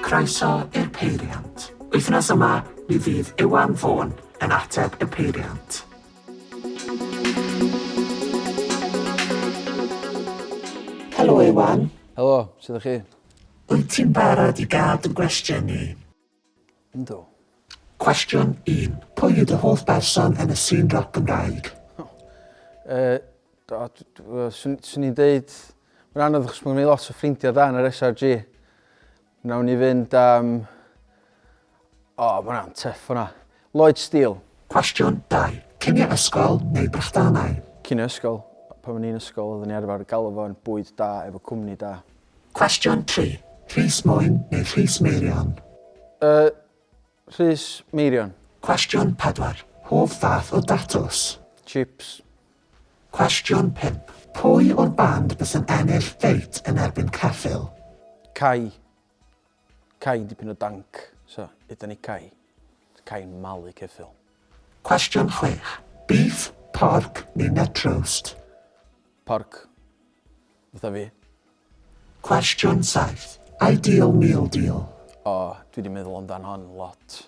Croeso i'r Peiriant. Wythnos yma, mi fydd Iwan Vaughan yn ateb y peiriant. Helo Iwan. Helo, sut ydych chi? Wyt ti'n barod i gael dy gwestiynnu? Yndw. Cwestiwn un, pwy yw dy hoff berson yn y sîn roc Gymraeg? Yy, do, d- d- wel, swn swn i'n deud... Mae'n anodd achos mae gen i lot o ffrindiau da yn yr SRG. Wnawn ni fynd am... O, mae hwnna'n tuff hwnna. Lloyd Steele. Cwestiwn dau, cinio ysgol neu brechdanau? Cinio ysgol. Pan o'n i'n ysgol oeddwn i arfer galw fo'n bwyd da efo cwmni da. Cwestiwn tri, Rhys Mwyn neu Rhys Meirion? Y, Rhys Meirion. Cwestiwn pedwar, Hoff fath o datws? Chips. Cwestiwn pump, Pwy o'r band bys yn ennill feit yn erbyn Ceffyl? Cai. Cai dipyn o danc, so yda ni Cai. Cai'n malu Ceffyl. Cwestiwn chwech, Beef, porc neu net roast? Porc. Fatha fi. Cwestiwn saith. Ideal meal deal. O, dwi di meddwl amdan hon lot.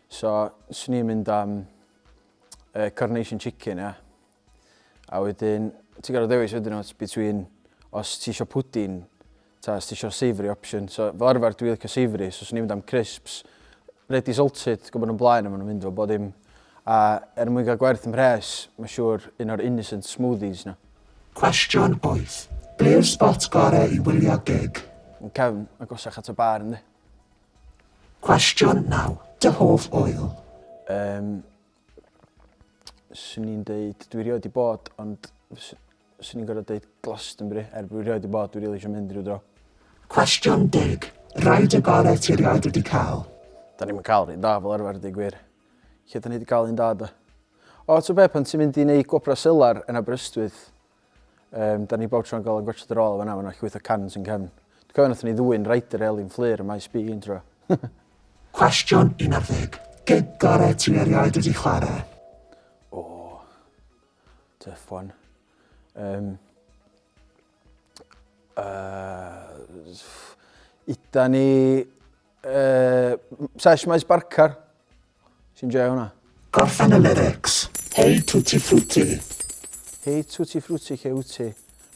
So, swn i'n mynd am uh, carnation chicken, ia. A wedyn, ti'n gorfod dewis wedyn os between os ti isio pwdin, ta os ti isio savoury option. So, fel arfer dwi'n licio savoury, so swn i'n mynd am crisps, ready salted, gwybod nhw'n blaen a maen nhw'n mynd fo bod dim A er mwyn cael gwerth mhres, mae'n siŵr un o'r innocent smoothies 'na. Cwestiwn wyth, be yw'r sbot gorau i wylio gig? Yn cefn, agosach at y bar yndi? Cwestiwn naw, dy hoff ŵyl? Yym, 'swn i'n deud, dwi rioed 'di bod ond fys- Swn i'n gorfod deud Glastonbury, er bod fi rioed di bod, dwi rili isio mynd ryw dro. Cwestiwn deg, rhaid y bore ti rioed wedi cael? Da ni'm yn cael rhai da fel arfer deu gwir. Lle da ni di cael un da da? O, ti'n be, pan ti'n mynd i wneud gwobra selar yn Aberystwyth, um, da ni bob tro'n gael yn gwaethed yr ôl fanna, fanna llwyth o cans yn cefn. Dwi'n cofio nath ni ddwy'n Ryder Elin Fflur y maes bi un tro. Cwestiwn 11. Gig gore ti erioed wedi chwarae? Tough one. Um, uh, Ida ni... Uh, Sesh Maes Barcar. Sy'n joio hwnna. Gorffen y lyrics. Hei tutti frutti. Hei tutti frutti che uti.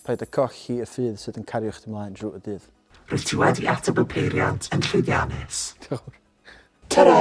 Paid y cochi y ffydd sydd yn cario chdi mlaen drwy y dydd. Rwyt ti wedi ateb y peiriant yn llwyddiannus. Diolch. Ta-ra!